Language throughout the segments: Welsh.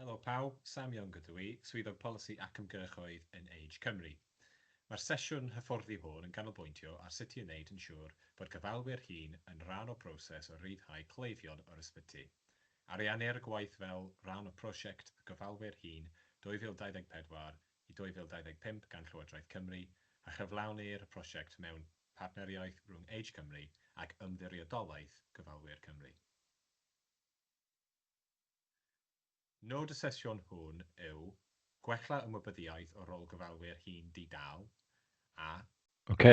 Helo pawb, Sam Young ydw i, Swyddog Polisi ac Ymgyrchoedd yn Age Cymru. Mae'r sesiwn hyfforddi hwn yn ganolbwyntio ar sut i wneud yn siŵr bod gofalwyr hŷn yn rhan o broses o ryddhau cleifion o'r ysbyty. Ariennir y gwaith fel rhan o Prosiect Gofalwyr Hŷn 2024 i 2025 gan Llywodraeth Cymru a chyflawnir y prosiect mewn partneriaeth rhwng Age Cymru ac Ymddiriedolaeth Gofalwyr Cymru. Nod y sesiwn hwn yw gwella ymwybyddiaeth o rôl gofalwyr hŷn di-dâl, a. Ok.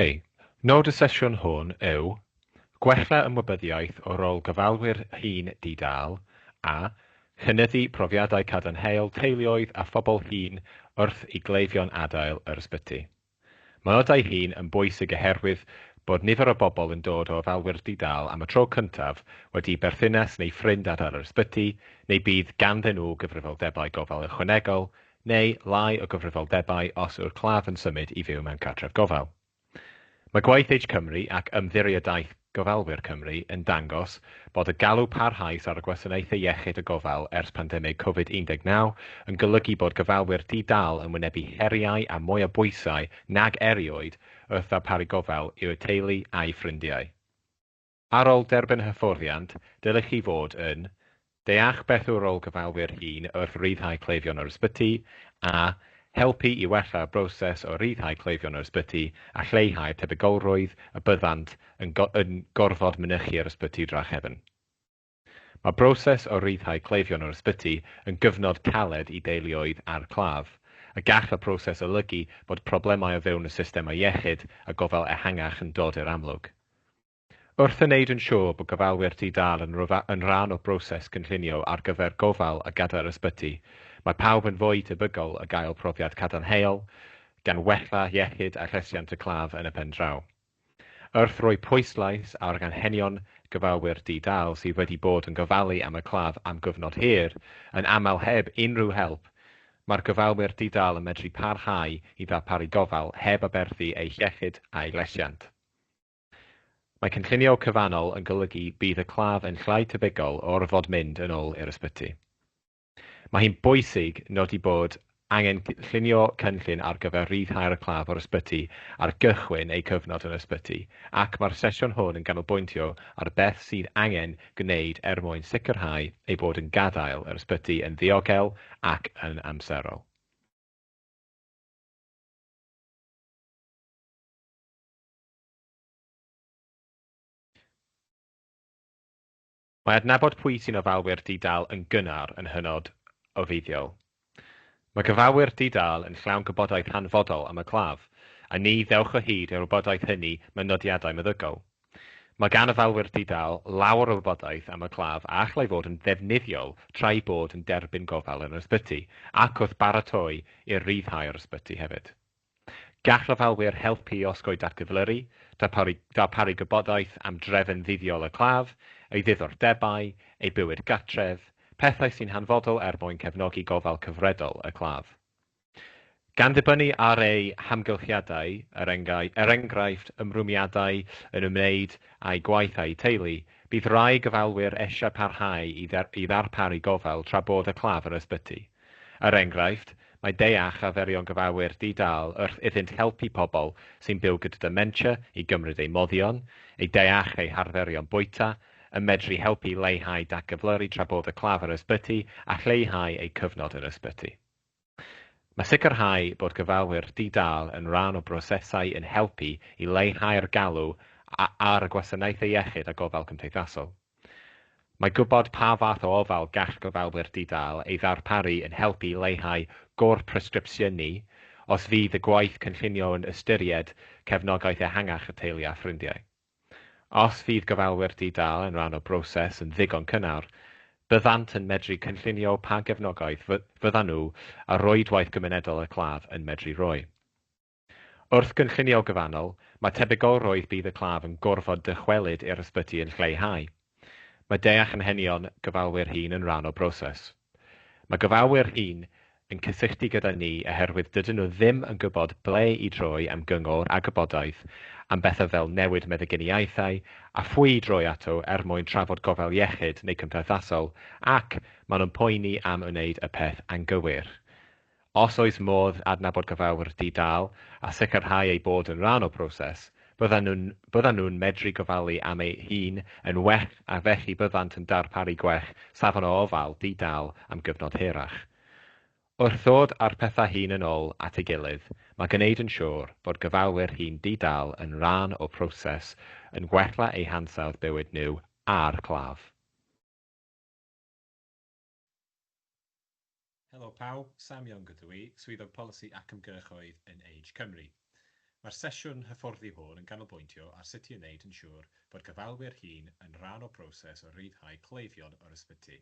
Nod y sesiwn hwn yw gwella ymwybyddiaeth o rôl gofalwyr hŷn di-dâl, a chynyddu profiadau cadarnhaol teuluoedd a phobl hŷn wrth i gleifion adael yr ysbyty. Mynodai hyn yn bwysig oherwydd bod nifer o bobl yn dod o ofalwyr di-dâl am y tro cyntaf wedi i berthynas neu ffrind adael yr ysbyty, neu bydd ganddyn nhw gyfrifoldebau gofal ychwanegol, neu lai o gyfrifoldebau os yw'r claf yn symud i fyw mewn cartref gofal. Mae gwaith Age Cymru ac Ymddiriedaeth. Gofalwyr Cymru yn dangos bod y galw parhaus ar y gwasanaethau iechyd a gofal ers pandemig Covid 19 yn golygu bod gofalwyr di-dâl yn wynebu heriau a mwy o bwysau nag erioed wrth ddarparu gofal i'w teulu a'u ffrindiau. Ar ôl derbyn hyfforddiant, dylech chi fod yn Deall beth yw rôl gyfalwyr hŷn wrth ryddhau cleifion o'r ysbyty, a helpu i wella'r broses o ryddhau cleifion o'r ysbyty a lleihau'r tebygolrwydd y byddant yn yn gorfod mynychu yr ysbyty drachefn. Mae broses o ryddhau cleifion o'r ysbyty yn gyfnod caled i deuluoedd a'r claf, a gall y proses olygu bod problemau o fewn y systemau iechyd a gofal ehangach yn dod i'r amlwg. Wrth yn wneud yn siŵr bod gofalwyr di-dâl yn yn rhan o broses cynllunio ar gyfer gofal a gadair ysbyty, mae pawb yn fwy tebygol o gael profiad cadarnhaol, gan wella iechyd a llesiant y claf yn y pen draw. Wrth roi pwyslais ar anghenion gofalwyr di-dâl sydd wedi bod yn gofalu am y claf am gyfnod hir, yn aml heb unrhyw help, mae'r gofalwyr di-dâl yn medru parhau i ddarparu gofal heb aberthu eu hiechyd a'u llesiant. Mae cynllunio cyfannol yn golygu bydd y claf yn llai tebygol o orfod mynd yn ôl i'r ysbyty. Mae hi'n bwysig nodi bod angen llunio cynllun ar gyfer rhyddhau'r claf o'r ysbyty ar gychwyn eu cyfnod yn yr ysbyty, ac mae'r sesiwn hwn yn ganolbwyntio ar beth sydd angen gwneud er mwyn sicrhau eu bod yn gadael yr ysbyty yn ddiogel ac yn amserol. Mae adnabod pwy sy'n ofalwyr di-dâl yn gynnar yn hynod o fuddiol. Mae cyfrafwyr di-dâl yn llawn gwybodaeth hanfodol am y claf, a ni ddewch o hyd i'r wybodaeth hynny mewn nodiadau meddygol. Mae gan ofalwyr di-dâl lawer o wybodaeth am y claf a allai fod yn ddefnyddiol tra'u bod yn derbyn gofal yn yr ysbyty ac wrth baratoi i'r rhyddhau o'r ysbyty hefyd. Gall ofalwyr helpu i osgoi datgyflyru, darparu darparu gwybodaeth am drefn ddyddiol y claf, ei ddiddordebau, ei bywyd gartref, pethau sy'n hanfodol er mwyn cefnogi gofal cyfredol y claf. Gan ddibynnu ar eu hamgylchiadau, er enghraifft er enghraifft ymrwymiadau yn ymwneud â'u gwaith a'u teulu, bydd rhai gofalwyr eisiau parhau i i ddarparu gofal tra bod y claf yn ysbyty. Er enghraifft, mae deall arferion gyfauwyr di-dâl wrth iddynt helpu pobl sy'n byw gyda dementia i gymryd eu moddion, eu deall eu harferion bwyta, yn medru helpu i leihau datgyflyru tra bod y claf yr ysbyty a lleihau eu cyfnod yr ysbyty. Mae sicrhau bod gyfauwyr di-dâl yn rhan o brosesau yn helpu i leihau'r galw ar y gwasanaethau iechyd a gofal cymdeithasol. Mae gwybod pa fath o ofal gall gofalwyr di-dâl ei ddarparu yn helpu i leihau gôr presgripsiynu os fydd y gwaith cynllunio yn ystyried cefnogaeth ehangach y teulu a ffrindiau. Os fydd gofalwyr di-dâl yn rhan o broses yn ddigon cynnar, byddant yn medru cynllunio pa gefnogaeth fyddan nhw a rhwydwaith gymunedol y claf yn medru rhoi. Wrth gynllunio gyfannol, mae tebygolrwydd bydd y claf yn gorfod dychwelyd i'r ysbyty yn lleihau. Mae deall anghenion gofalwyr hŷn yn rhan o broses. Mae gofalwyr hŷn yn cysylltu gyda ni oherwydd dydyn nhw ddim yn gwybod ble i droi am gyngor a gwybodaeth am bethau fel newid meddyginiaethau a phwy i droi ato er mwyn trafod gofal iechyd neu cymdeithasol ac maen nhw'n poeni am wneud y peth anghywir. Os oes modd adnabod gofalwyr di-dâl a sicrhau eu bod yn rhan o broses, byddan nhw'n byddan nhw'n medru gofalu am eu hun yn well a felly byddant yn darparu gwell safon o ofal di-dâl am gyfnod hirach. Wrth ddod â'r pethau hyn yn ol at ei gilydd, mae gwneud yn siŵr bod gofalwyr hŷn di-dâl yn rhan o proses yn gwella eu hansawdd bywyd nhw a'r claf. Helo pawb, Sam Young ydw i, Swyddog Polisi ac Ymgyrchoedd yn Age Cymru. Mae'r sesiwn hyfforddi hwn yn ganolbwyntio ar sut i wneud yn siŵr bod gofalwyr hŷn yn rhan o broses o ryddhau cleifion o'r ysbyty.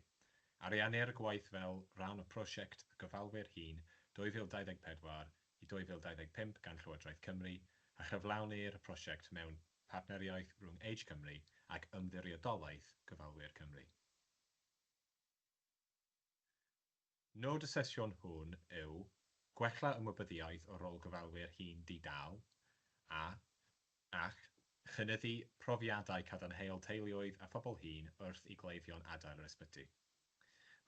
Ariennir y gwaith fel rhan o Prosiect y Gofalwyr Hŷn 2024 i 2025 gan Llywodraeth Cymru a chyflawnir y prosiect mewn partneriaeth rhwng Age Cymru ac Ymddiriedolaeth Gofalwyr Cymru. Nod y sesiwn hwn yw gwella ymwybyddiaeth o rôl gofalwyr hŷn di-dâl a, ac chynyddu profiadau cadarnhaol teuluoedd a phobl hŷn wrth i gleifion adael yr ysbyty.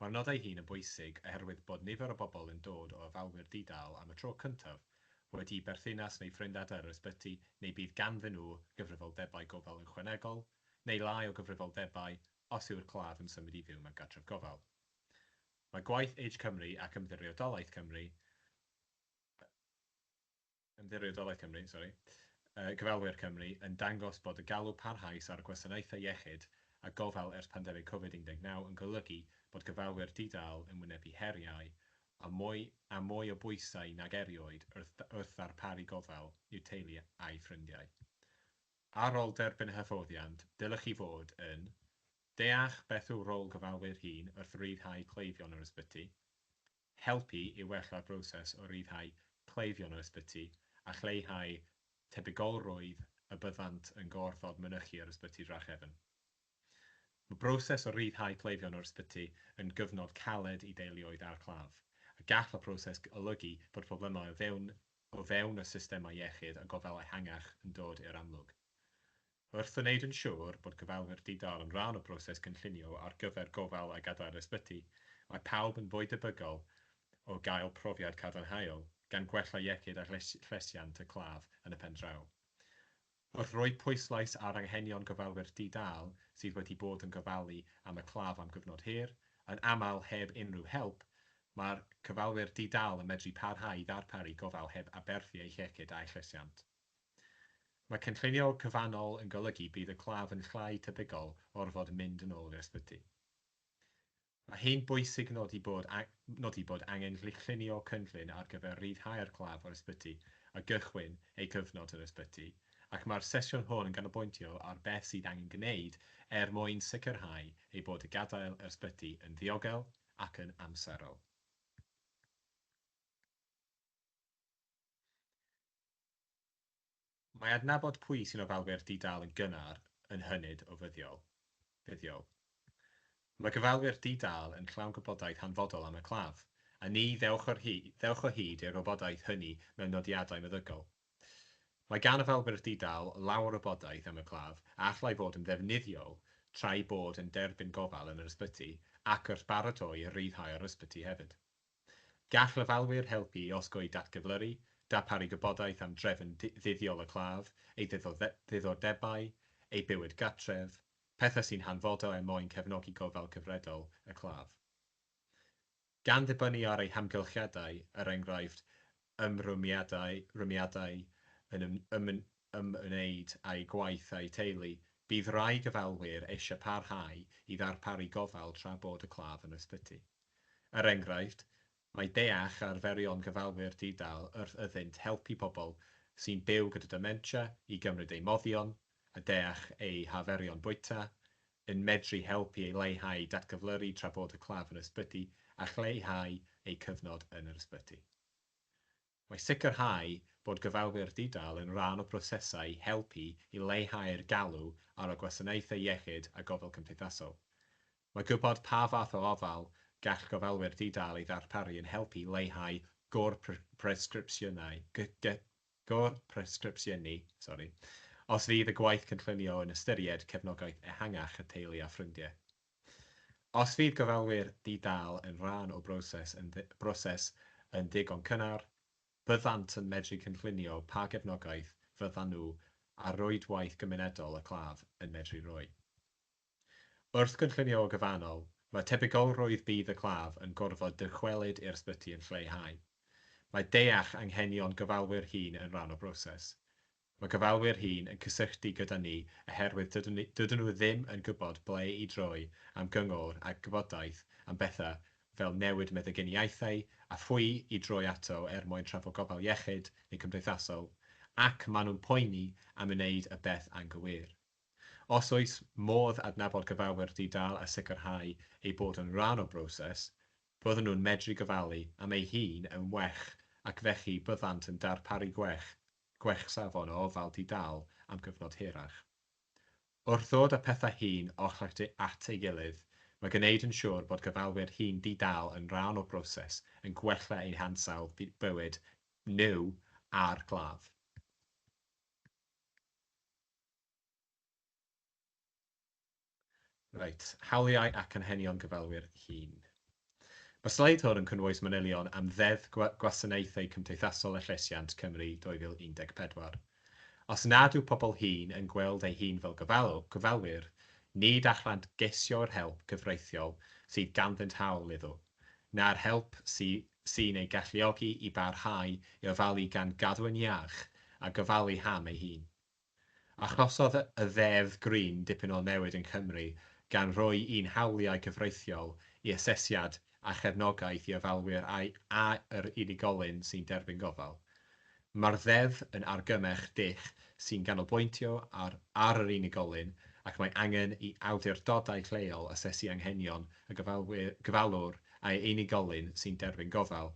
Mae'r nodau hyn yn bwysig oherwydd bod nifer o bobl yn dod o ofalwyr di-dâl am y tro cyntaf, wedi'u berthynas neu ffrind adael yr ysbyty neu bydd ganddyn nhw gyfrifoldebau gofal ychwanegol neu lai o gyfrifoldebau os yw'r claf yn symud i fyw mewn cartref gofal. Mae gwaith Age Cymru ac Ymddiriedolaeth Cymru, Ymddiriedolaeth Cymru, sori, Cyfalwyr Cymru yn dangos bod y galw parhaus ar gwasanaethau iechyd a gofal ers pandemig Covid 19 yn golygu bod cyfalwyr di-dâl yn wynebu heriau a mwy a mwy o bwysau nag erioed wrth wrth ddarparu gofal i'w teulu a'u ffrindiau. Ar ol derbyn y hyfforddiant, dylech chi fod yn, Deall beth yw rôl gyfalwyr hŷn wrth ryddhau cleifion o'r ysbyty, Helpu i wella'r broses o ryddhau cleifion o'r ysbyty a lleihau tebygolrwydd y byddant yn gorfod mynychu yr ysbyty drachefn. Mae broses o ryddhau cleifion o'r ysbyty yn gyfnod caled i deuluoedd â'r claf, a gall y proses olygu bod problemau o fewn o fewn y systemau iechyd a gofal ehangach yn dod i'r amlwg. Wrth wneud yn siŵr bod gofalwyr di-dâl yn rhan o broses cynllunio ar gyfer gofal a gadael ysbyty, mae pawb yn fwy debygol o gael profiad cadarnhaol, gan gwella iechyd a llesiant y claf yn y pen draw. Wrth roi pwyslais ar anghenion gofalwyr di-dâl sydd wedi bod yn gofalu am y claf am gyfnod hir, yn aml heb unrhyw help, mae'r cyfalwyr di-dâl yn medru parhau i ddarparu gofal heb aberthu eu hiechyd a'u llesiant. Mae cynllunio cyfannol yn golygu bydd y claf yn llai tebygol o orfod mynd yn ôl i'r ysbyty. Mae hi'n bwysig nodi bod nodi bod angen llunio cynllun ar gyfer rhyddhau'r claf o'r ysbyty a gychwyn ei gyfnod yr ysbyty, ac mae'r sesiwn hwn yn ganolbwyntio ar beth sydd angen gwneud er mwyn sicrhau ei bod y gadael yr ysbyty yn ddiogel ac yn amserol. Mae adnabod pwy sy'n ofalwyr di-dâl yn gynnar yn hynod o fuddiol. Mae gofalwyr di-dâl yn llawn gwybodaeth hanfodol am y claf, a ni ddewch o hyd i'r wybodaeth hynny mewn nodiadau meddygol. Mae gan ofalwyr di-dâl lawer o wybodaeth am y claf a allai fod yn ddefnyddiol tra'u bod yn derbyn gofal yn yr ysbyty ac wrth baratoi i ryddhau o'r ysbyty hefyd. Gall ofalwyr helpu i osgoi datgyflyru, darparu gwybodaeth am drefn ddyddiol y claf, ei ddiddordebau, ei bywyd gartref, pethau sy'n hanfodol er mwyn cefnogi gofal cyfredol y claf. Gan ddibynnu ar eu hamgylchiadau, er enghraifft, ymrwymiadau rhymiadau yn ymwneud â'u gwaith a'u teulu, bydd rhai gofalwyr eisiau parhau i ddarparu gofal tra bod y claf yn ysbyty. Er enghraifft, mae deall arferion gofalwyr di-dâl wrth iddynt helpu pobl sy'n byw gyda dementia i gymryd eu moddion, a deall eu harferion bwyta, yn medru helpu i leihau datgyflyru tra bod y claf yn ysbyty a chleihau eu cyfnod yn yr ysbyty. Mae sicrhau bod gofalwyr di-dâl yn rhan o brosesau helpu i leihau'r galw ar y gwasanaethau iechyd a gofal cymdeithasol. Mae gwybod pa fath o ofal gall gofalwyr di-dâl ei ddarparu yn helpu i leihau gor-bresgripsiynau Gor-presgripsiynu, sori, os fydd y gwaith cynllunio yn ystyried cefnogaeth ehangach y teulu a ffrindiau. Os fydd gofalwyr di-dâl yn rhan o broses yn broses yn ddigon cynnar, byddant yn medru cynllunio pa gefnogaeth fyddan nhw a rhwydwaith gymunedol y claf yn medru rhoi. Wrth gynllunio o gyfannol, mae tebygolrwydd bydd y claf yn gorfod dychwelyd i'r ysbyty yn lleihau. Mae deall anghenion gofalwyr hŷn yn rhan o broses. Mae gofalwyr hŷn yn cysylltu gyda ni oherwydd dydyn dydyn nhw ddim yn gwybod ble i droi am gyngor a gwybodaeth am bethau fel newid meddyginiaethau a phwy i droi ato er mwyn trafod gofal iechyd neu cymdeithasol ac maen nhw'n poeni am wneud y peth anghywir. Os oes modd adnabod cyfawr di-dâl a sicrhau ei bod yn rhan o broses, bydden nhw'n medru gofalu am ei hun yn well ac felly byddant yn darparu gwell, gwell safon o ofal di-dâl am gyfnod hirach. Wrth ddod â pethau hyn oll at ei gilydd, mae gwneud yn siŵr bod gofalwyr hŷn di-dâl yn rhan o broses yn gwella eu hansawdd bywyd nhw a'r claf. Reit, hawliau ac anghenion gofalwyr hŷn. Mae'r sleid hwn yn cynnwys manylion am Ddeddf Gwasanaethau Cymdeithasol a Llesiant, Cymru, 2014. Os nad yw pobl hŷn yn gweld eu hun fel gofalwyr, nid allant geisio'r help cyfreithiol sydd ganddynt hawl iddo, na'r help sy'n eu galluogi i barhau i ofalu gan gadw'n iach a gofalu am eu hun. Achosodd y Ddeddf Green dipyn o newid yn Cymru gan roi un hawliau cyfreithiol i asesiad a chefnogaeth i ofalwyr a'i a yr unigolyn sy'n derbyn gofal. Mae'r Ddeddf yn argymell dull sy'n ganolbwyntio ar ar yr unigolyn ac mae angen i awdurdodau lleol asesu anghenion y gofalwyr gofalwr a'i unigolyn sy'n derbyn gofal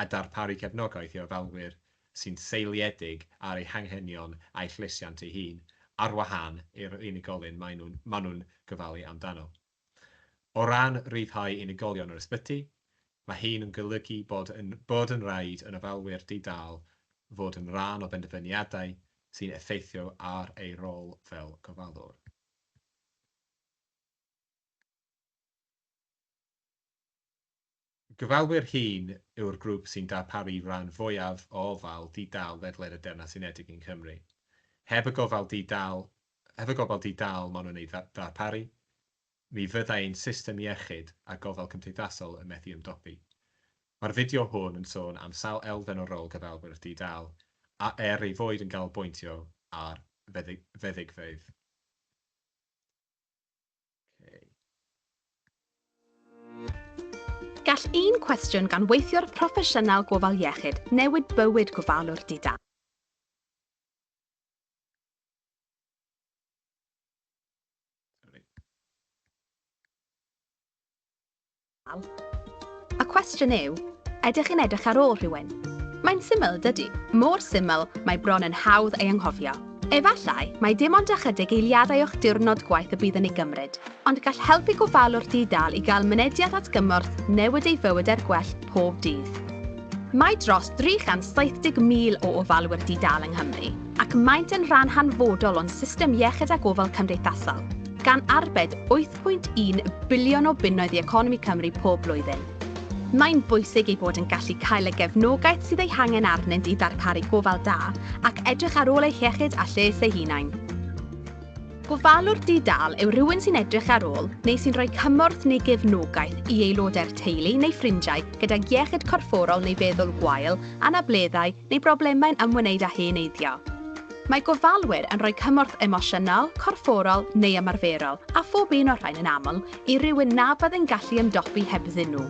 a darparu cefnogaeth i ofalwyr sy'n seiliedig ar ei hanghenion a'i llesiant ei hun, ar wahân i'r unigolyn maen nhw'n maen nhw'n gofalu amdano. O ran rhyddhau unigolion yr ysbyty, mae hyn yn golygu bod yn bod yn rhaid yn ofalwyr di-dâl fod yn rhan o benderfyniadau sy'n effeithio ar eu rôl fel gofalwr. Gofalwyr hŷn yw'r grŵp sy'n darparu ran fwyaf o ofal di-dâl ledled y Deyrnas Unedig yng Nghymru. Heb y gofal di-dâl, heb y gofal di-dâl maen nhw'n ei ddarparu, mi fyddai ein system iechyd a gofal cymdeithasol yn methu ymdopi. Mae'r fideo hwn yn sôn am sawl elfen o rôl gofalwyr di-dâl, a er ei fod yn ganolbwyntio ar feddygfeydd, Gall un cwestiwn gan weithiwr proffesiynol gofal iechyd newid bywyd gofalwr di-dâl. Y cwestiwn yw, ydych chi'n edrych ar ôl rhywun? Mae'n syml, dydy, mor syml mae bron yn hawdd ei anghofio. Efallai mai dim ond ychydig eiliadau o'ch diwrnod gwaith y bydd yn ei gymryd, ond gall helpu gofalwr di-dâl i gael mynediad at gymorth newid ei fywyd er gwell pob dydd. Mae dros 370,000 o ofalwyr di-dâl yng Nghymru, ac maent yn rhan hanfodol o'n system iechyd a gofal cymdeithasol, gan arbed 1.1 biliwn o bunnoedd i economi Cymru pob blwyddyn. Mae'n bwysig ei bod yn gallu cael y gefnogaeth sydd ei hangen arnynt i ddarparu gofal da ac edrych ar ôl eu hiechyd a lles eu hunain. Gofalwr di-dâl yw rhywun sy'n edrych ar ôl neu sy'n rhoi cymorth neu gefnogaeth i aelodau'r teulu neu ffrindiau gydag iechyd corfforol neu feddwl gwael, anableddau, neu broblemau'n ymwneud â heneiddio. Mae gofalwyr yn rhoi cymorth emosiynol, corfforol neu ymarferol, a phob un o'r rhain yn aml, i rywun na fyddai'n gallu ymdopi hebddyn nhw.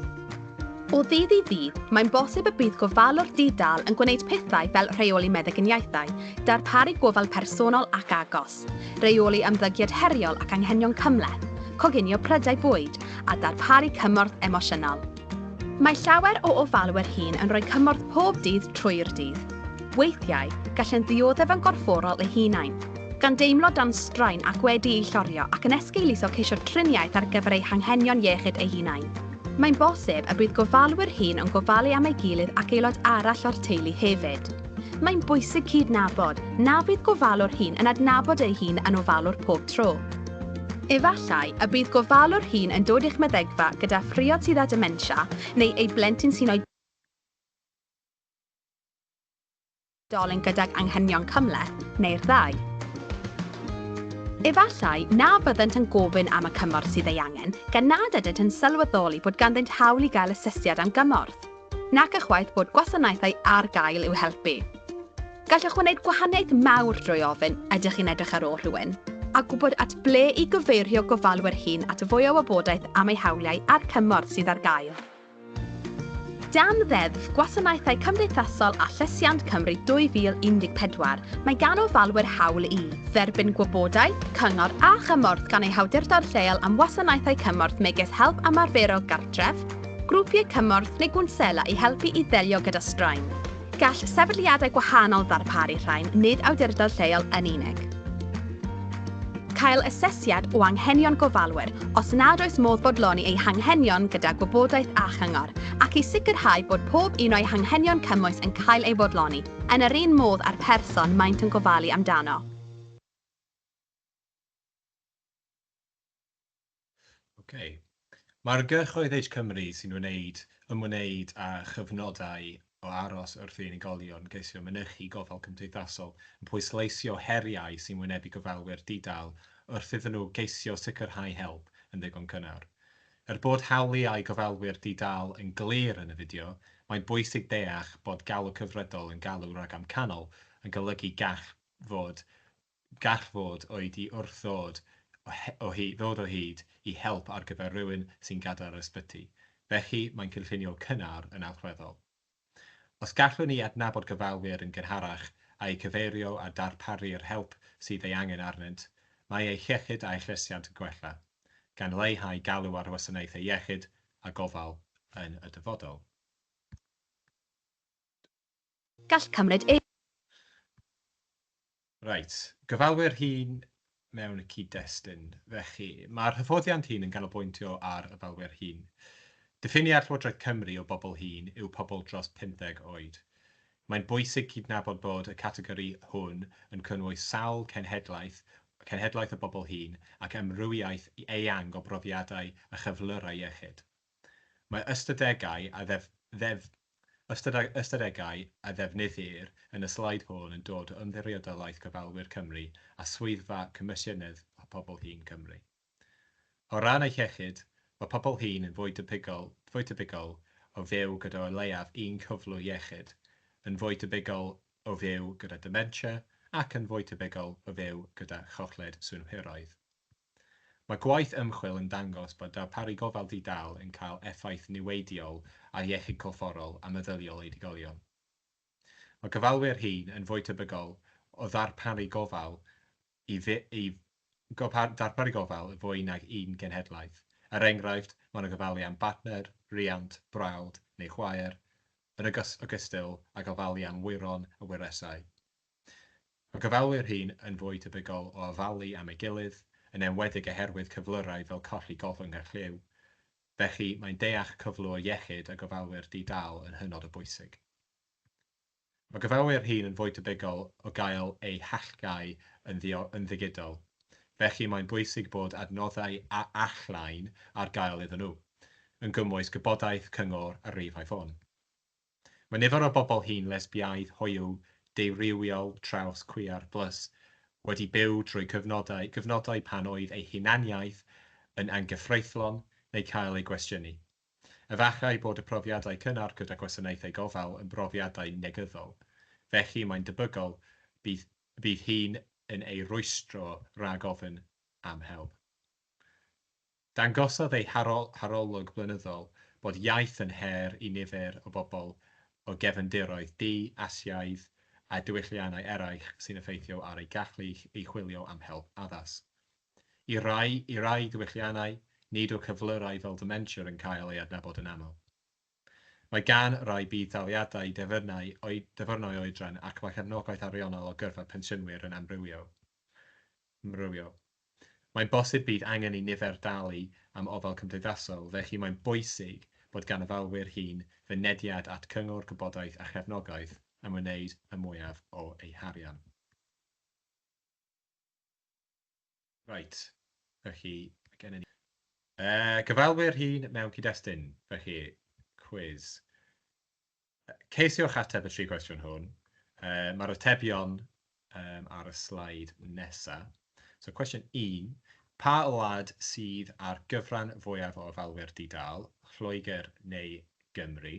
O ddydd i ddydd, mae'n bosib y bydd gofalwr di-dâl yn gwneud pethau fel rheoli meddyginiaethau, darparu gofal personol ac agos. busnes, rheoli ymddygiad heriol ac anghenion cymhleth, coginio prydau bwyd, a darparu cymorth emosiynol. Mae llawer o ofalwyr hŷn yn rhoi cymorth pob dydd trwy'r dydd. Weithiau, gallent ddioddef yn gorfforol eu hunain, gan deimlo dan straen ac wedi'u llorio ac yn esgeuluso ceisio triniaeth ar gyfer eu hanghenion iechyd eu hunain. Mae'n bosib y bydd gofalwyr hŷn yn gofalu am ei gilydd ac aelod arall o'r teulu hefyd. Mae'n bwysig cydnabod na fydd gofalwr hŷn yn adnabod ei hun yn ofalwr pob tro. Efallai y bydd gofalwr hŷn yn dod i'ch meddygfa gyda phriod sydd â dementia neu ei blentyn sy'n oedolyn gydag anghenion cymhleth, neu'r ddau. Efallai na fyddant yn gofyn am y cymorth sydd ei angen, gan nad ydynt yn sylweddoli bod ganddynt hawl i gael asesiad am gymorth. Nac ychwaith bod gwasanaethau ar gael i'w helpu. Gallwch wneud gwahaniaeth mawr drwy ofyn, ydych chi'n edrych ar ôl rhywun? a gwybod at ble i gyfeirio gofalwyr hŷn at fwy o wybodaeth am eu hawliau a'r cymorth sydd ar gael. Dan Ddeddf Gwasanaethau Cymdeithasol a Llesiant Cymru 2014, mae gan ofalwyr hawl i dderbyn gwybodaeth, cyngor a chymorth gan eu hawdurdod lleol am wasanaethau cymorth megis help ymarferol gartref, Grwpiau cymorth neu gwnsela i helpu i ddelio gyda straen. Gall sefydliadau gwahanol ddarparu rhain, nid awdurdod lleol yn unig. Cael asesiad o anghenion gofalwyr, os nad oes modd bodloni eu hanghenion gyda gwybodaeth a chyngor, ac i sicrhau bod pob un o'u hanghenion cymwys yn cael ei fodloni, yn yr un modd â'r person maent yn gofalu amdano. Ocê. Mae'r gyrchoedd Age Cymru sy'n wneud, ymwneud â chyfnodau o aros wrth i unigolion geisio mynychu gofal cymdeithasol yn pwysleisio heriau sy'n wynebu gofalwyr di-dâl wrth iddyn nhw geisio sicrhau help yn ddigon cynnar. Er bod hawliau gofalwyr di-dâl yn glir yn y fideo, mae'n bwysig deall bod galw cyfredol yn galw ragamcanol yn golygu gall fod Gall fod oedi wrth ddod o ddod o hyd i help ar gyfer rhywun sy'n gadael yr ysbyty, felly mae'n cynllunio cynnar yn allweddol. Os gallwn ni adnabod gofalwyr yn gynharach a'u cyfeirio a darparu'r help sydd ei angen arnynt, mae eu hiechyd a'u llesiant yn gwella, gan leihau galw ar wasanaethau iechyd a gofal yn y dyfodol. Gall cymryd ei. Reit, gyfalwyr hŷn mewn y cyd-destun, felly, mae'r hyfforddiant hyn yn canolbwyntio ar ofalwyr hŷn. Diffiniad Llywodraeth Cymru o bobl hŷn yw pobl dros 50 oed. Mae'n bwysig cydnabod bod y categori hwn yn cynnwys sawl cenhedlaeth, cenhedlaeth o bobl hŷn, ac amrywiaeth eang o brofiadau a chyflyrau iechyd. Mae ystadegau a ddef-ddef-, ystadeg-, ystadegau a ddefnyddir yn y sleid hwn yn dod o Ymddiriedolaeth Gofalwyr Cymru a Swyddfa Comisiynydd Pobl Hŷn Cymru. O ran eu hiechyd, mae pobl hŷn yn fwy debygol, fwy tebygol o fyw gyda o leiaf un cyflwr iechyd, yn fwy debygol o fyw gyda dementia ac yn fwy tebygol o fyw gyda chochlyd synhwyraidd. Mae gwaith ymchwil yn dangos bod darparu gofal di-dâl yn cael effaith niweidiol ar iechyd corfforol a meddyliol oedolion. Mae gofalwyr hŷn yn fwy tebygol o ddarparu gofal i ddarparu gofal i fwy nag un genhedlaeth. Er enghraifft, maen nhw'n gofalu am bartner, rhiant, brawd neu chwaer, yn ogystal ag ofalu am wyron a wyresau. Mae gofalwyr rhîn yn fwy tebygol o ofalu am ei gilydd, yn enwedig oherwydd cyflyrau fel colli gollwng a chlyw. Felly, mae'n deall cyflwr iechyd y gofalwyr di-dâl yn hynod o bwysig. Mae gofalwyr rhîn yn fwy tebygol o gael eu hallgáu yn ddigidol, felly mae'n bwysig bod adnoddau all-line ar gael iddyn nhw, yn gymwys gwybodaeth, cyngor a rhifau ffôn. Mae nifer o bobl hŷn, lesbiaidd, hoyw, deurywiol, traws, cwiar, plus, wedi byw drwy gyfnodau, gyfnodau pan oedd eu hunaniaeth yn anghyfreithlon neu cael ei gwestiynu. Efallai bod y profiadau cynnar gyda gwasanaethau gofal yn brofiadau negyddol, felly mae'n debygol bydd bydd hyn yn eu rwystro rhag ofyn am help. Dangosodd ei harolwg blynyddol bod iaith yn her i nifer o bobl o gefndiroedd du, Asiaidd a diwylliannau eraill sy'n effeithio ar eu gallu i chwilio am help addas. I rai, i rai diwylliannau, nid yw cyflyrau fel dementia yn cael eu adnabod yn aml. Mae gan rai budd-daliadau defyrnau oeddyfyrnau oedran ac mae cefnogaeth ariannol o gyrfa pensiynwyr yn amrywio. Mae'n bosib bydd angen i nifer dalu am ofal cymdeithasol, felly mae'n bwysig bod gan ofalwyr hŷn fynediad at gyngor, gwybodaeth a chefnogaeth am wneud y mwyaf o eu harian. Reit, felly mae gennym ni yy cyfalwyr hŷn mewn cyd-destun, felly cwis. Ceisiwch ateb y tri cwestiwn hwn. Yy mae'r atebion um, ar y slaid nesaf. So cwestiwn 1, pa wlad sydd ar gyfran fwyaf o ofalwyr di-dal, Lloegr neu Gymru?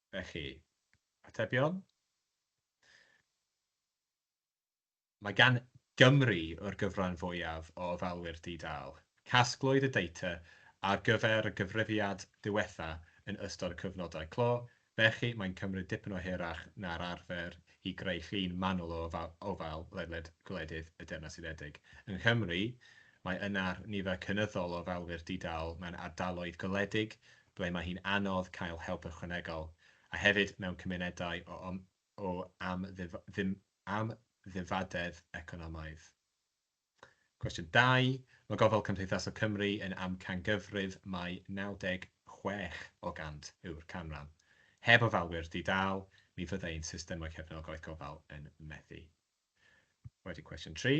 Felly, atebion? Mae gan Gymru yr gyfran fwyaf o ofalwyr di-dâl. Casglwyd y data ar gyfer y gyfrifiad diwetha yn ystod y cyfnodau clo, felly mae'n cymryd dipyn o hirach na'r arfer i greu llun manwl o ofal ledled gwledydd y Deyrnas Unedig. Yng Nghymru, mae yna'r nifer cynyddol o ofalwyr di-dâl mewn ardaloedd gwledig ble mae hi'n anodd cael help ychwanegol, a hefyd mewn cymunedau o amddifadedd economaidd. Cwestiwn dau, Mae Gofal Cymdeithasol Cymru yn amcangyfrif mai 96 o gant yw'r canran. Heb ofalwyr di-dâl, mi fyddai ein systemau cefnogaeth gofal yn methu. Wedyn cwestiwn tri,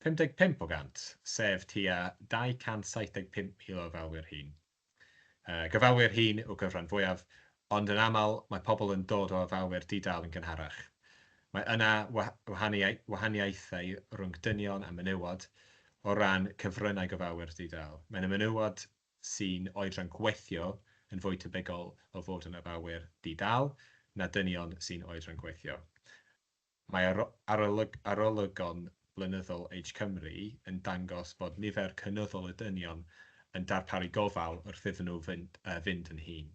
55 o gant, sef tua 275,000 o ofalwyr hŷn, Gofalwyr hŷn yw'r gyfran fwyaf, ond yn aml mae pobl yn dod o ofalwyr di-dâl yn gynharach. Mae yna wahaniaethau rhwng dynion a menywod o ran cyfryngau gofalwyr di-dâl. Mae yna menywod sy'n oedran gweithio yn fwy tebygol o fod yn ofalwyr di-dâl na dynion sy'n oedran gweithio. Mae arolygon blynyddol Age Cymru yn dangos bod nifer cynyddol y dynion yn darparu gofal wrth iddyn nhw fynd yn hŷn.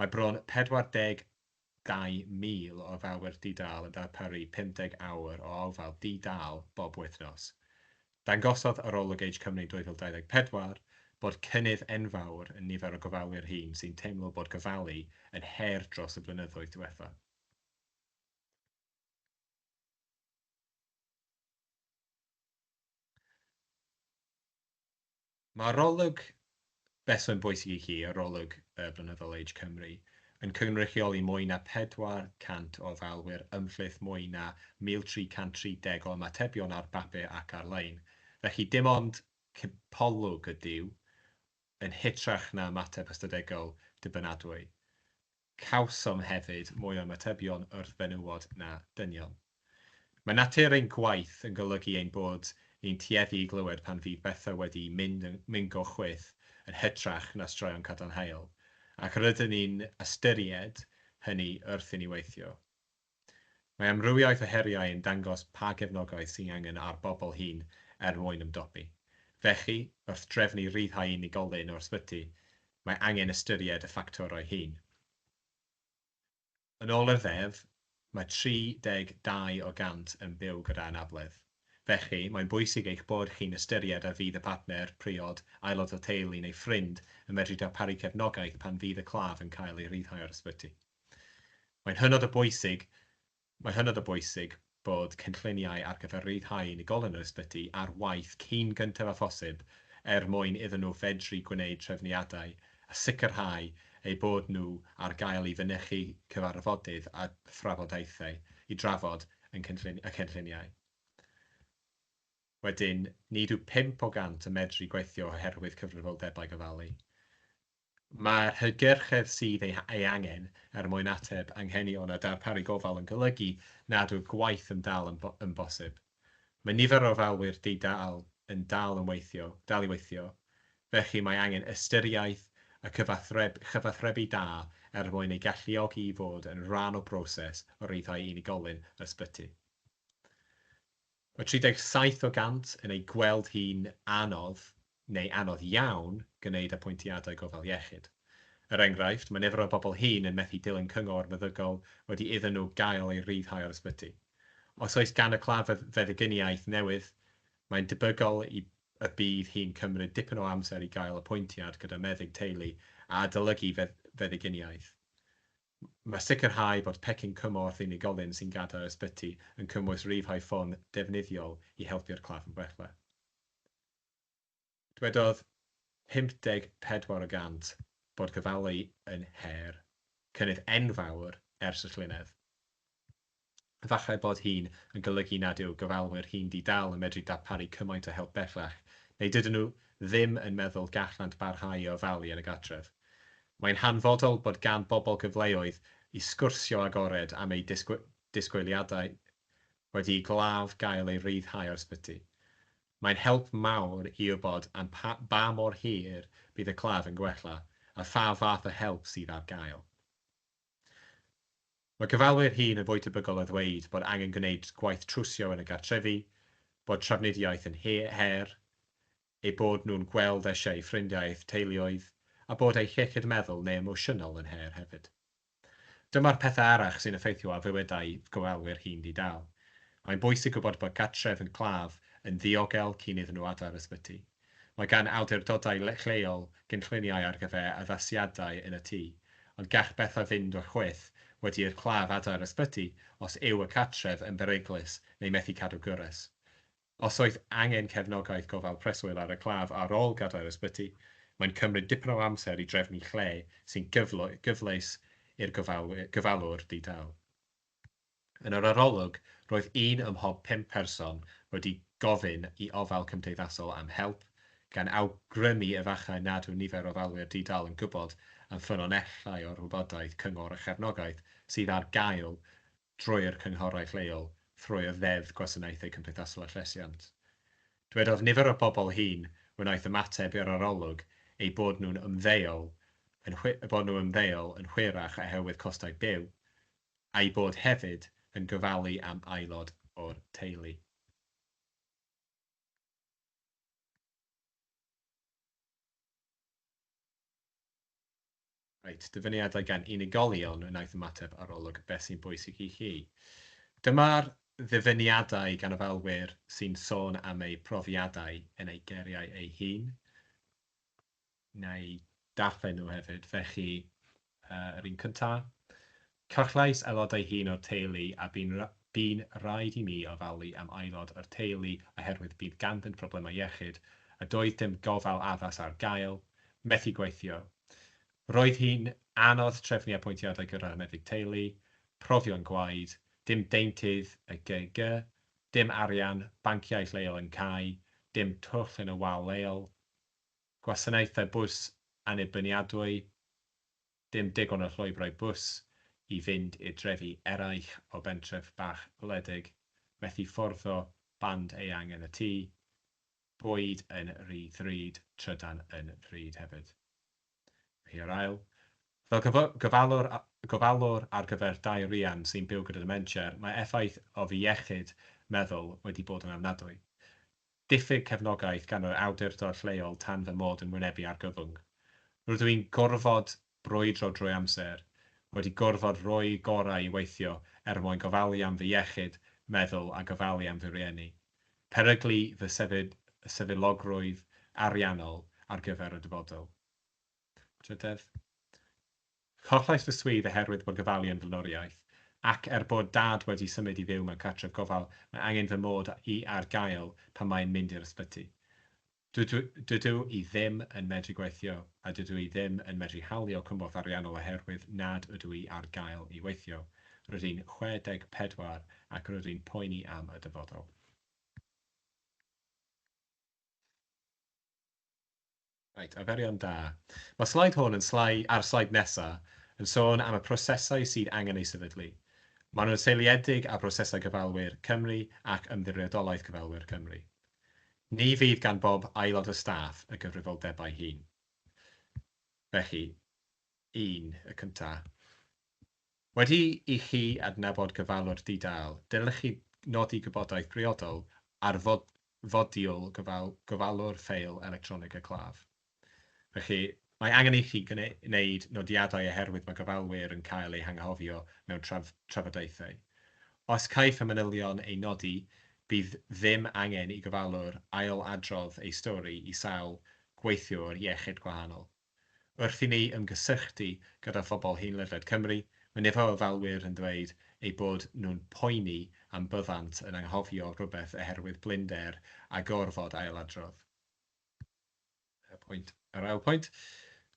Mae bron 42,000 o ofalwyr di-dâl yn darparu 50 awr o ofal di-dâl bob wythnos. Dangosodd arolwg Age Cymru 2024 bod cynnydd enfawr yn nifer o gofalwyr hŷn sy'n teimlo bod gofalu yn her dros y blynyddoedd diwethaf. Mae arolwg beth sy'n bwysig i chi, arolwg y Blynyddol Age Cymru, yn cynrychioli mwy na 400 o ofalwyr ymhlith mwy na 1,330 o ymatebion ar bapur ac ar-lein. Felly, dim ond cipolwg ydyw, yn hytrach na ymateb ystadegol dibynadwy. Cawsom hefyd mwy o ymatebion wrth fenywod na dynion. Mae natur ein gwaith yn golygu ein bod ni'n tueddu i glywed pan fydd bethau wedi mynd yn mingo chwyth yn hytrach na straeon cadarnhaol, ac rydyn ni'n ystyried hynny wrth i ni weithio. Mae amrywiaeth o heriau yn dangos pa gefnogaeth sy'n angen ar bobl hŷn er mwyn ymdopi. Felly, wrth drefnu rhyddhau unigolyn o'r ysbyty, mae angen ystyried y ffactorau hyn. Yn ôl yr Ddeddf, mae 32 o gant yn byw gyda anabledd. Felly, mae'n bwysig eich bod chi'n ystyried a fydd y partner, priod, aelod o teulu neu ffrind yn medru darparu cefnogaeth pan fydd y claf yn cael ei ryddhau o'r ysbyty. Mae'n hynod o bwysig, mae'n hynod o bwysig bod cynlluniau ar gyfer rhyddhau unigolyn yr ysbyty ar waith cyn gyntaf â phosib er mwyn iddyn nhw fedru gwneud trefniadau a sicrhau eu bod nhw ar gael i fynychu cyfarfodydd a thrafodaethau i drafod y cynlluniau. Wedyn, nid yw pump o gant yn medru gweithio oherwydd cyfrifoldebau gofalu. Mae'r hygyrchedd sydd ei angen er mwyn ateb anghenion a darparu gofal yn golygu nad yw'r gwaith yn dal yn bosib. Mae nifer o ofalwyr di-dâl yn dal i weithio, felly mae angen ystyriaeth a chyfathrebu da er mwyn eu galluogi i fod yn rhan o broses o ryddhau unigolyn ysbyty. Mae 37 o gant yn ei gweld hi'n anodd neu anodd iawn gwneud apwyntiadau gofal iechyd. Er enghraifft, mae nifer o bobl hŷn yn methu dilyn cyngor meddygol wedi iddyn nhw gael eu rhyddhau o'r ysbyty. Os oes gan y claf feddyginiaeth newydd, mae'n debygol y bydd hi'n cymryd dipyn o amser i gael apwyntiad gyda meddyg teulu a adolygu feddyginiaeth. Mae sicrhau bod pecyn cymorth unigolyn sy'n gadael ysbyty yn cymwys rifau ffôn defnyddiol i helpu'r claf yn bwrle. Dwedodd 54 y gant bod gofalu yn her, cynnydd enfawr ers y llynedd. Efallai bod hyn yn golygu nad yw gofalwyr hŷn di-dâl yn medru darparu cymaint o help bellach, neu dydyn nhw ddim yn meddwl gallant barhau i ofalu yn y gartref. Mae'n hanfodol bod gan bobl gyfleoedd i sgwrsio agored am eu disgwyliadau wedi'i glaf gael ei ryddhau o'r ysbyty. Mae'n help mawr i wybod am ba mor hir bydd y claf yn gwella a pha fath o help sydd ar gael. Mae cyfalwyr hŷn yn fwy tebygol o ddweud bod angen gwneud gwaith trwsio yn y gartrefi, bod trafnidiaeth yn her, eu bod nhw'n gweld eisiau eu ffrindiau a'u teuluoedd, a bod eu hiechyd meddwl neu emosiynol yn her hefyd. Dyma'r pethau arall sy'n effeithio ar fywydau gofalwyr hŷn di-dâl. Mae'n bwysig gwybod bod gartref yn claf yn ddiogel cyn iddyn nhw adael yr ysbyty. Mae gan awdurdodau lleol gynlluniau ar gyfer addasiadau yn y tŷ, ond gall bethau fynd o'r chwith wedi i'r claf adael yr ysbyty os yw y cartref yn beryglus neu methu cadw gwres. Os oes angen cefnogaeth gofal preswyl ar y claf ar ôl gadael yr ysbyty, mae'n cymryd dipyn o amser i drefnu lle sy'n gyfleus i'r gofalwr di-dâl. Yn yr arolwg, roedd un ym mhob pump person wedi gofyn i ofal cymdeithasol am help, gan awgrymu efallai nad yw nifer o ofalwyr di-dâl yn gwybod am ffynonellau o'r wybodaeth, cyngor a chefnogaeth sydd ar gael drwy'r cynghorau lleol thrwy'r Ddeddf Gwasanaethau Cymdeithasol a Llesiant. Dywedodd nifer o'r bobl hŷn wnaeth ymateb i'r arolwg eu bod nhw'n ymddeol yn hwyrach oherwydd costau byw, a'i bod hefyd yn gofalu am aelod o'r teulu. Reit, dyfyniadau gan unigolion wnaeth ymateb arolwg Beth sy'n bwysig i chi? Dyma'r ddyfyniadau gan ofalwyr sy'n sôn am eu profiadau yn eu geriau eu hun. Wna i ddarllen nhw hefyd, felly yr un cyntaf. Cyfleus aelodau hŷn o'r teulu a bu'n bu'n rhaid i mi ofalu am aelod o'r teulu oherwydd bydd ganddynt broblemau iechyd a doedd dim gofal addas ar gael, methu gweithio. Roedd hi'n anodd trefnu apwyntiadau gyda'r meddyg teulu, profion gwaed, dim deintydd y GIG, dim arian, banciau lleol yn cau, dim twll yn y wal leol, Gwasanaethau bws annibyniadwy, dim digon o llwybrau bws i fynd i'r drefi eraill o bentref bach wledig, methu fforddo band eang yn y tŷ, bwyd yn rhy ddrud, trydan yn ddrud hefyd. Hi yw'r ail. Fel gofalwr, gofalwr ar gyfer dau rian sy'n byw gyda dementia, mae effaith o fy iechyd meddwl wedi bod yn ofnadwy. Diffyg cefnogaeth gan yr awdurdod lleol tan fy mod yn wynebu argyfwng. Rydw i'n gorfod brwydro drwy amser, wedi gorfod rhoi'r gorau i weithio er mwyn gofalu am fy iechyd meddwl a gofalu am fy rieni. peryglu fy sefydlogrwydd ariannol ar gyfer y dyfodol. Trydedd, Collais fy swydd oherwydd bod gofalu am flaenoriaeth, ac er bod Dad wedi symud i fyw mewn cartref gofal, mae angen fy mod i ar gael pan mae'n mynd i'r ysbyty. Dydw i ddim yn medru gweithio a dydw i ddim yn medru hawlio cymorth ariannol oherwydd nad ydw i ar gael i weithio. Rydw i'n 64 ac rydw i'n poeni am y dyfodol. Reit, arferion da. Mae'r sleid hwn yn slai, a'r sleid nesaf, yn sôn am y prosesau sydd angen eu sefydlu. Maen nhw'n seiliedig ar brosesau cyfalwyr Cymru ac Ymddiriedolaeth Cyfalwyr Cymru. Ni fydd gan bob aelod o staff y gyfrifoldebau hyn. Felly, un, y cyntaf. Wedi i chi adnabod gofalwr di-dâl, dylech chi nodi gwybodaeth briodol ar fodiwl gofalwr ffeil electronig y claf. Felly, mae angen ichi wneud nodiadau oherwydd mae gofalwyr yn cael eu hanghofio mewn trafodaethau. Os caiff y manylion eu nodi, bydd ddim angen i gofalwr ail-adrodd ei stori i sawl gweithiwr iechyd gwahanol. Wrth i ni ymgysylltu gyda phobl hŷn ledled Cymru, mae nifer o ofalwyr yn dweud eu bod nhw'n poeni am byddant yn anghofio rhywbeth oherwydd blinder a gorfod ail-adrodd. Y pwynt, yr ail pwynt,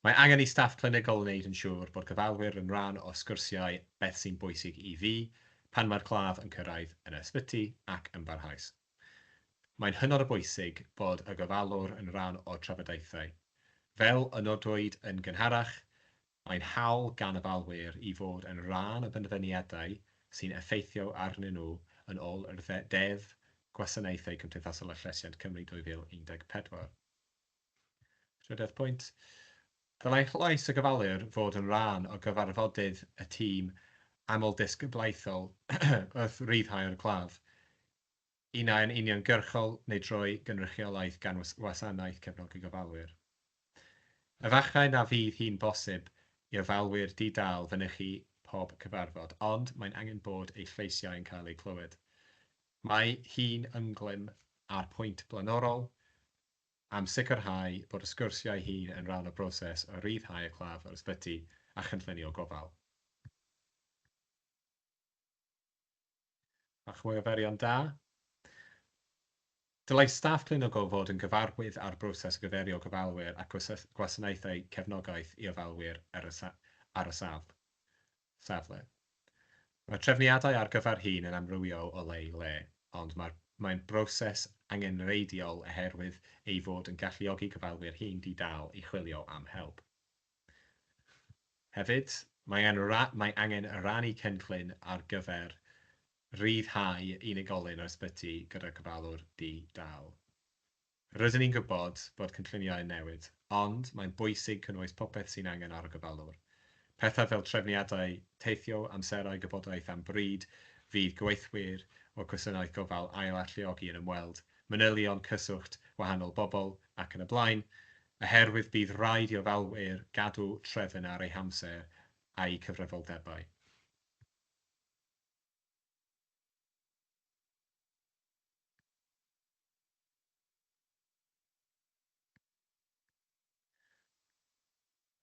mae angen i staff clinigol wneud yn siŵr bod cyfalwyr yn rhan o sgyrsiau beth sy'n bwysig i fi pan mae'r claf yn cyrraedd yn y sbyty ac yn barhaus. Mae'n hynod o bwysig bod y gofalwr yn rhan o'r trafodaethau. Fel y nodwyd yn gynharach, Mae'n hawl gan y balwyr i fod yn rhan o benderfyniadau sy'n effeithio arnyn nhw yn ôl yr Ddeddf Gwasanaethau Cymdeithasol a Llesiant Cymru 2014. Trydydd pwynt, dylai llais y gofalwr fod yn rhan o gyfarfodydd y tîm amlddisgyblaethol wrth ryddhau'r claf. Un a yn uniongyrchol neu drwy gynrychiolaeth gan Wasanaeth Cefnogi Gofalwyr. Efallai na fydd hi'n bosib i ofalwyr di-dâl fynychu pob cyfarfod, ond mae'n angen bod eu lleisiau yn cael eu clywed. Mae hi'n ynglŷn â'r pwynt blaenorol am sicrhau bod y sgwrsiau hyn yn rhan o broses o ryddhau y claf o'r ysbyty a chynllunio gofal. Bach mwy o ferion da. Dylai staff clinigol fod yn gyfarwydd â'r broses riferio gofalwyr ac gwasanaethau cefnogaeth i ofalwyr ar y safle. Mae trefniadau ar gyfer hyn yn amrywiol o le i le, ond mae'n broses angenrheidiol oherwydd ei fod yn galluogi gofalwyr hŷn di-dâl i chwilio am help. Hefyd, mae angen rhannu cynllun ar gyfer rhyddhau unigolyn o'r ysbyty gyda'r gofalwr di-dâl. Rydyn ni'n gwybod bod cynlluniau yn newid, ond mae'n bwysig cynnwys popeth sy'n angen ar y gofalwr. Pethau fel trefniadau teithio, amserau, gwybodaeth am bryd fydd gweithwyr o'r gwasanaeth gofal ail-alluogi yn ymweld, manylion cyswllt wahanol bobl ac yn y blaen, Oherwydd bydd rhaid i ofalwyr gadw trefn ar eu hamser a'u cyfrifoldebau.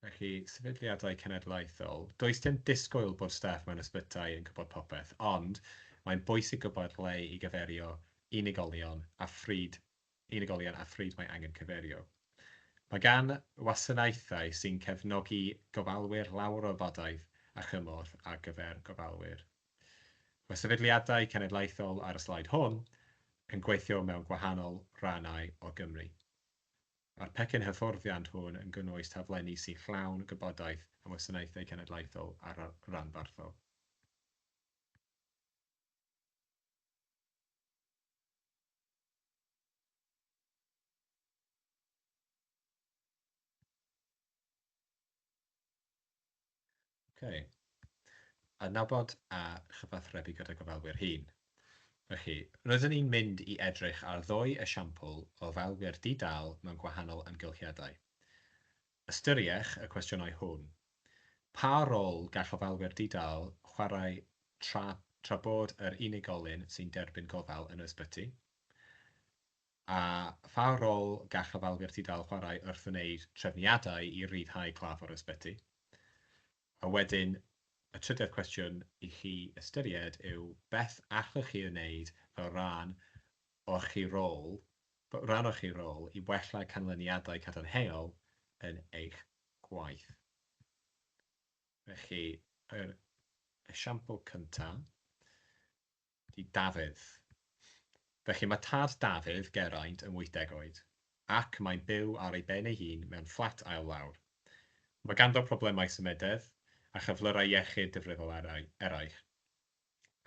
Felly, sefydliadau cenedlaethol, does dim disgwyl bod staff mewn ysbytai yn gwybod popeth, ond mae'n bwysig gwybod ble i gyferio unigolion a phryd unigolion â phryd mae angen cyfeirio. Mae gan wasanaethau sy'n cefnogi gofalwyr lawer o wybodaeth a chymorth ar gyfer gofalwyr. Mae sefydliadau cenedlaethol ar y sleid hwn yn gweithio mewn gwahanol rannau o Gymru. Mae'r pecyn hyfforddiant hwn yn cynnwys taflenni sy'n llawn gwybodaeth am wasanaethau cenedlaethol a rhanbarthol. Ok. Adnabod a chyfathrebu gyda gofalwyr hŷn. Felly, roeddwn ni'n mynd i edrych ar ddwy esiampl o ofalwyr di-dâl mewn gwahanol amgylchiadau. Ystyriech y cwestiynau hwn. Pa rôl gall ofalwyr di-dâl chwarae tra tra bod yr unigolyn sy'n derbyn gofal yn yr ysbyty? A pha rôl gall ofalwyr di-dâl chwarae wrth wneud trefniadau i ryddhau claf o'r ysbyty? A wedyn, y trydedd cwestiwn i chi ystyried yw beth allwch chi ei wneud fel rhan o'ch chi rôl, rhan o'ch chi rôl i wella canlyniadau cadarnhaol yn eich gwaith. Felly, yr esiampl cyntaf, i Dafydd. Felly mae tad Dafydd, Geraint, yn wythdeg oed, ac mae'n byw ar ei ben ei hun mewn fflat ail lawr. Mae ganddo problemau symudedd a chyflyrau iechyd difrifol eraill.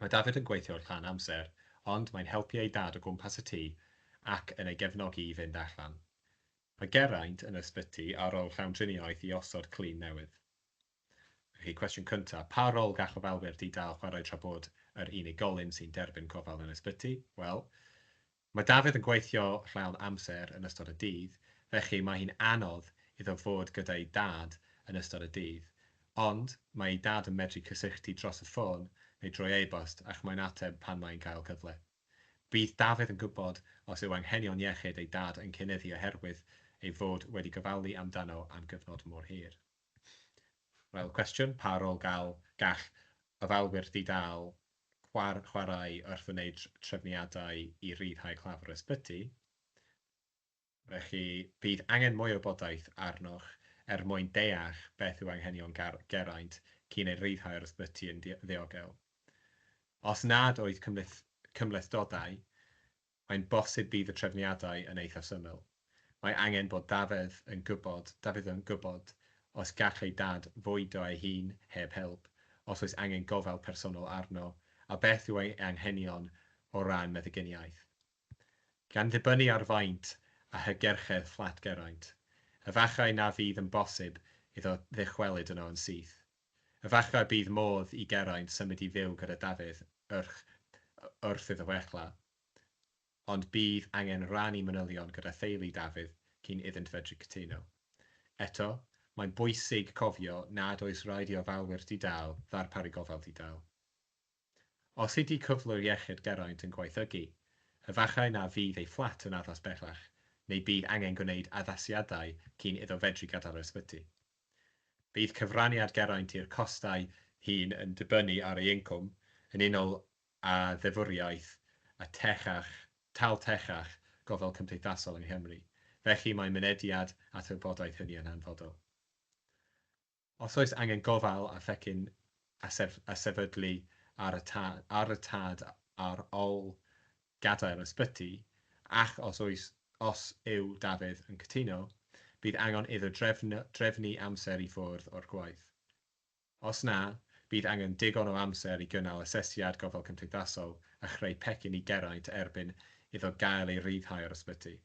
Mae Dafydd yn gweithio rhan amser, ond mae'n helpu ei dad o gwmpas y tŷ ac yn ei gefnogi i fynd allan. Mae Geraint yn yr ysbyty ar ôl llawndriniaeth i osod clun newydd. Felly, cwestiwn cyntaf, pa rôl gall ofalwyr di-dâl chwarae tra bod yr unigolyn sy'n derbyn gofal yn ysbyty? Wel, mae Dafydd yn gweithio llawn amser yn ystod y dydd, felly mae hi'n anodd iddo fod gyda'i dad yn ystod y dydd. Ond, mae ei dad yn medru cysylltu dros y ffôn neu drwy e-bost ac mae'n ateb pan mae'n cael cyfle. Bydd Dafydd yn gwybod os yw anghenion iechyd ei dad yn cynyddu oherwydd ei fod wedi gofalu amdano am gyfnod mor hir. Wel, cwestiwn, pa rôl gall gall ofalwyr di-dâl chwar chwarae wrth wneud trefniadau i ryddhau claf yr ysbyty? Felly, bydd angen mwy o wybodaeth arnoch er mwyn deall beth yw anghenion Ger Geraint cyn ei ryddhau o'r ysbyty yn ddi ddiogel. Os nad oedd cymhleth cymhlethdodau Mae'n bosib bydd y trefniadau yn eithaf syml. Mae angen bod Dafydd yn gwybod, Dafydd yn gwybod os gall ei dad fwydo ei hun heb help, os oes angen gofal personol arno, a beth yw ei anghenion o ran meddyginiaeth. Gan ddibynnu ar faint a hygerchedd fflat Geraint, efallai na fydd yn bosib iddo ddychwelyd yno yn syth. Efallai bydd modd i Geraint symud i fyw gyda Dafydd wrth wrth iddo fechgla, ond bydd angen rannu manylion gyda theulu Dafydd cyn iddynt fedru cytuno. Eto, mae'n bwysig cofio nad oes raid i ofalwyr di-dâl ddarparu gofal di-dâl. Os ydi cyflwr iechyd Geraint yn gwaethygu, efallai na fydd ei fflat yn addas bellach neu bydd angen gwneud addasiadau cyn iddo fedru gadael yr ysbyty. Bydd cyfraniad Geraint i'r costau hyn yn dibynnu ar ei incwm, yn unol â ddeddfwriaeth y techach, tâl techach, gofal cymdeithasol yng Nghymru, felly mae mynediad at wybodaeth hynny yn hanfodol. Os oes angen gofal a phecyn a sefydlu ar y tad ar ol gadael ysbyty, ac os oes, os yw Dafydd yn cytuno, bydd angon iddo drefnu amser i ffwrdd o'r gwaith. Os na, bydd angen digon o amser i gynnal asesiad gofal cymdeithasol a chreu pecyn i Geraint erbyn iddo gael ei ryddhau o'r ysbyty.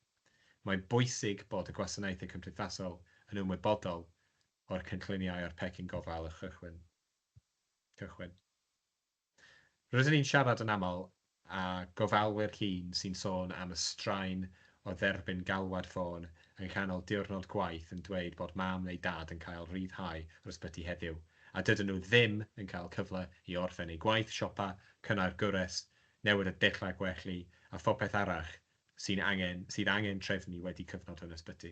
Mae'n bwysig bod y gwasanaethau cymdeithasol yn ymwybodol o'r cynlluniau a'r pecyn gofal a chychwyn. Cychwyn. Rydyn ni'n siarad yn aml â gofalwyr hŷn sy'n sôn am y straen o dderbyn galwad ffôn yng nghanol diwrnod gwaith yn dweud bod mam neu dad yn cael rhyddhau o'r ysbyty heddiw a dydyn nhw ddim yn cael cyfle i orffen eu gwaith, siopa, cynnau'r gwres, newid y dechrau gwelli a phopeth arall sy'n angen, sydd angen trefnu wedi cyfnod yn ysbyty.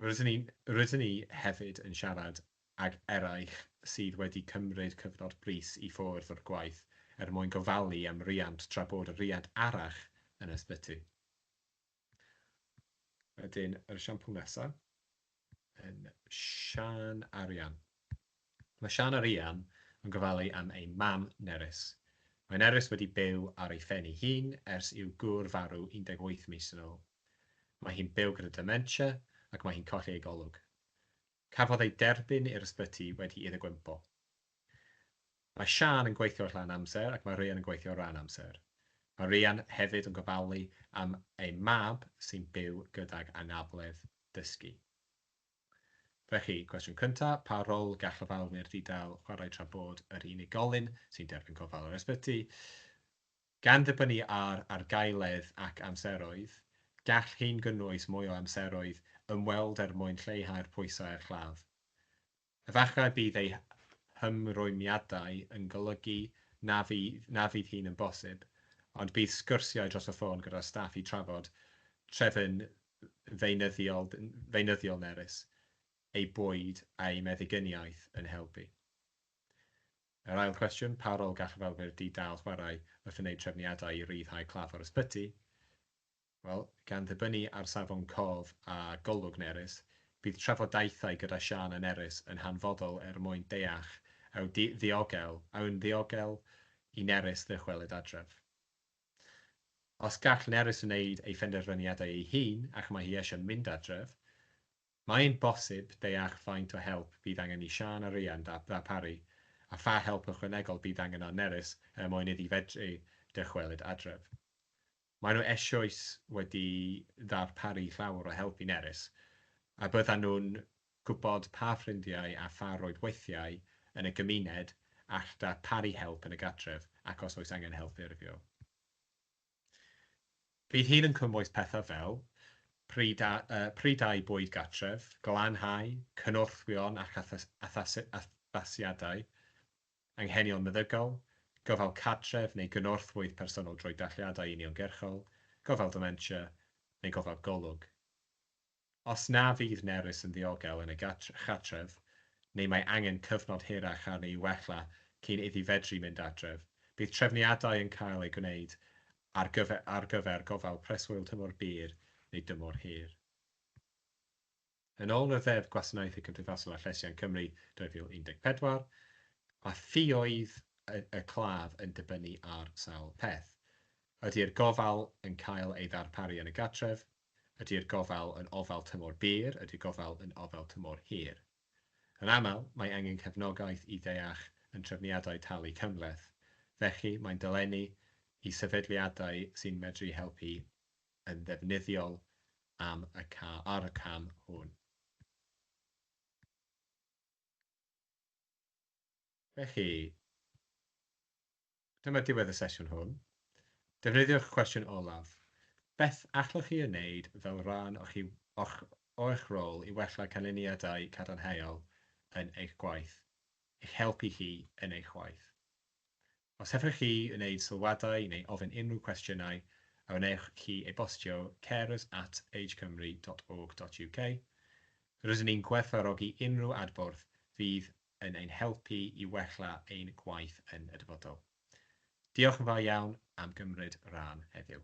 Rydyn ni, rydyn ni hefyd yn siarad ag eraill sydd wedi cymryd cyfnod brys i ffwrdd o'r gwaith er mwyn gofalu am riant tra bod y riant arall yn ysbyty. Wedyn yr esiampl nesa yn Siân a Rhian. Mae Siân a Rhian yn gofalu am eu mam Nerys. Mae Nerys wedi byw ar ei phen ei hun ers i'w gŵr farw 18 mis yn ôl. Mae hi'n byw gyda dementia ac mae hi'n colli ei golwg. Cafodd ei derbyn i'r ysbyty wedi iddo gwympo. Mae Siân yn gweithio rhan amser ac mae Ryan yn gweithio ran amser. Mae Ryan hefyd yn gofalu am ei mab sy'n byw gydag anabledd dysgu. Felly, cwestiwn cyntaf, pa rôl gall ofalwyr di-dâl chwarae tra bod yr unigolyn sy'n derbyn gofal yr ysbyty? Gan ddibynnu ar argaeledd ac amseroedd, gall hyn gynnwys mwy o amseroedd ymweld er mwyn lleihau'r pwysau ar chlaf. Efallai bydd eu hymrwymiadau yn golygu na fydd na fydd hyn yn bosib, ond bydd sgyrsiau dros y ffôn gyda'r staff i trafod trefn feunyddiol feunyddiol Nerys, ei bwyd a'i meddyginiaeth yn helpu. Yr ail cwestiwn, pa rôl gall ofalwyr di-dâl chwarae wrth wneud trefniadau i ryddhau claf o'r ysbyty? Wel, gan ddibynnu ar safon cof a golwg Nerys, bydd trafodaethau gyda Siân a Nerys yn hanfodol er mwyn deall a'u diogel, a'u'n ddiogel i Nerys ddychwelyd adref. Os gall Nerys wneud ei phenderfyniadau ei hun ac mae hi eisiau mynd adref, Mae'n bosib deall faint o help bydd angen i Siân a Rhian ddarparu a pha help ychwanegol bydd angen ar Nerys er mwyn iddi fedru dychwelyd adref. Maen nhw eisioes wedi darparu llawer o help i Nerys a byddan nhw'n gwybod pa ffrindiau a pha roedd weithiau yn y gymuned all darparu help yn y gartref ac os oes angen help ffurfio. Bydd hyn yn cynnwys pethau fel, prydau bwyd gartref, glanhau, cynorthwyon ac addasiadau, anghenion meddygol, gofal cartref neu gynorthwyydd personol drwy dathliadau uniongyrchol, gofal dementia, neu gofal golwg. Os na fydd Nerys yn ddiogel yn y cartref, neu mae angen cyfnod hirach arni i wella cyn iddi fedru mynd adref, bydd trefniadau yn cael eu gwneud ar gyfer ar gyfer gofal preswyl tymor byr neu dymor hir. Yn ôl y Ddeddf Gwasanaeth y Cymdeithasol a Llesiant Cymru 2014, mae ffioedd y y claf yn dibynnu ar sawl peth, ydi'r gofal yn cael ei ddarparu yn y gartref, Ydy'r gofal yn ofal tymor byr? Ydy'r gofal yn ofal tymor hir? Yn aml, mae angen cefnogaeth i ddeall yn trefniadau talu cymhleth, felly mae'n dolenni i sefydliadau sy'n medru helpu yn ddefnyddiol am y ar y cam hwn. Felly, Dyma diwedd y sesiwn hwn. Defnyddiwch cwestiwn olaf, Beth allwch chi ei wneud fel rhan o'ch rôl i wella canlyniadau cadarnhaol yn eich gwaith, i'ch helpu chi yn eich gwaith? Os hoffech chi wneud sylwadau neu ofyn unrhyw gwestiynau, a wnewch chi e-bostio carers at agecymru.org.uk. Rydyn ni'n gwerthfawrogi unrhyw adborth fydd yn ein helpu i wella ein gwaith yn y dyfodol. Diolch yn fawr iawn am gymryd rhan heddiw.